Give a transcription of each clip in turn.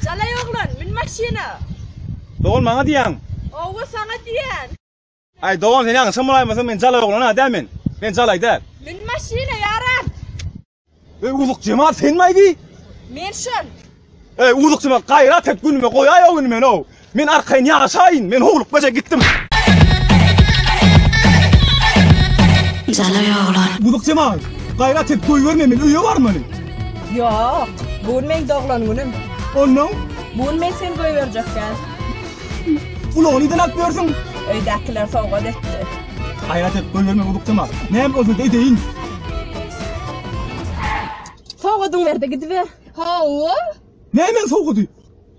Jalaý oglan, mün maşyna! Dogan maňa diýýäň? Owo, saňa diýýän. Aý, dogan, sen ýalňyşam bolaýmasaň, men jalaý oglan-a däl men. Men jalaý däl. Mün maşyna, ýaram! Eý, uzuk jemal, senmi-aý bi? Men şol. Eý, uzuk jemal, gaýrat et, günüme goýaý-ow indi men-ow! Men arkaýyn ýaşaýyn, men howlukmaja gitdim. Jalaý oglan. Guzuk jemaý, gaýrat et, goýberme meni, öýe barmaly. Ýok, bu gün meň doglan günüm. Onnoň? Bu gün men seni goýberjek däl. Ulagy nirden alyp ýörsüň? Öýdäkiler sowgat etdi. Gaýrat et, goýberme guzuk jemaý. Näme bolsada edeýin. Sowgadyňy ber-de gidiber. Hawa. Nämäň sowgady?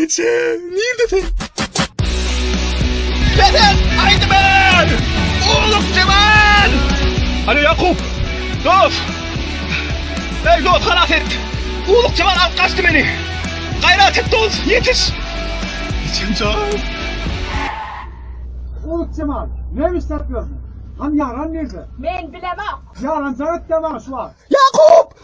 Ýeçe, nirde sen? Sezen Aýdymen! Ulug Jemal! Alo Ýakup! Dos! Eý dos, halas et! Ulug Jemal alyp gaçdy meni! Gaýrat et dos, ýetiş! Ýeçem jan! Ulug Jemal, näme işläp ýörsiň? Hany ýaran nirde? Men bilemok! Ýaranjaň etde maňa şu wagt! Ýakup!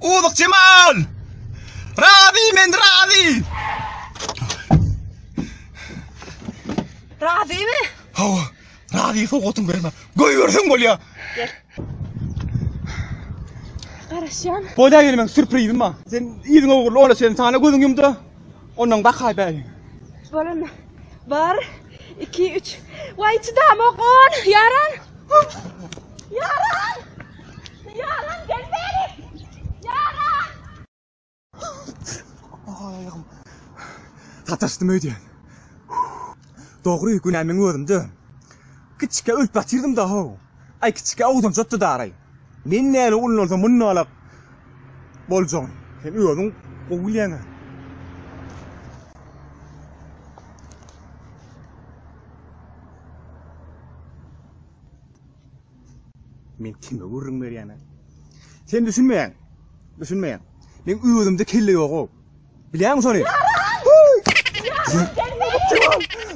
Uzuk Cemal! Razi men razi! Razi mi? Hawa, razi sowgatyn berme. Göy bersen bolýa. Gel. Garaşýan. Bolýa gelmek sürprizim bar. Sen ýüzüň ogurly ola sen sana gözüň ýumda. Ondan bakaý bäri. Bolan. Bar. 2 3. Waý çydamok on. Yaran. Yaran. Sataşdym öýdýän. Dogry, günä meň özümde. Kiçikä ölüp ýatyrdym-da-how. Aý, kiçikä ogdanjatdy daraý. Men näle ullansa mundalam boljagyn. Sen özüň gowy bilýäň-ä. Men kime gürrüň berýäne? Sen düşünmeýäň. Düşünmeýäň. Men özümde kelle ýog-ow. Bilýäňmi şony?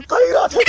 Gaýrat et!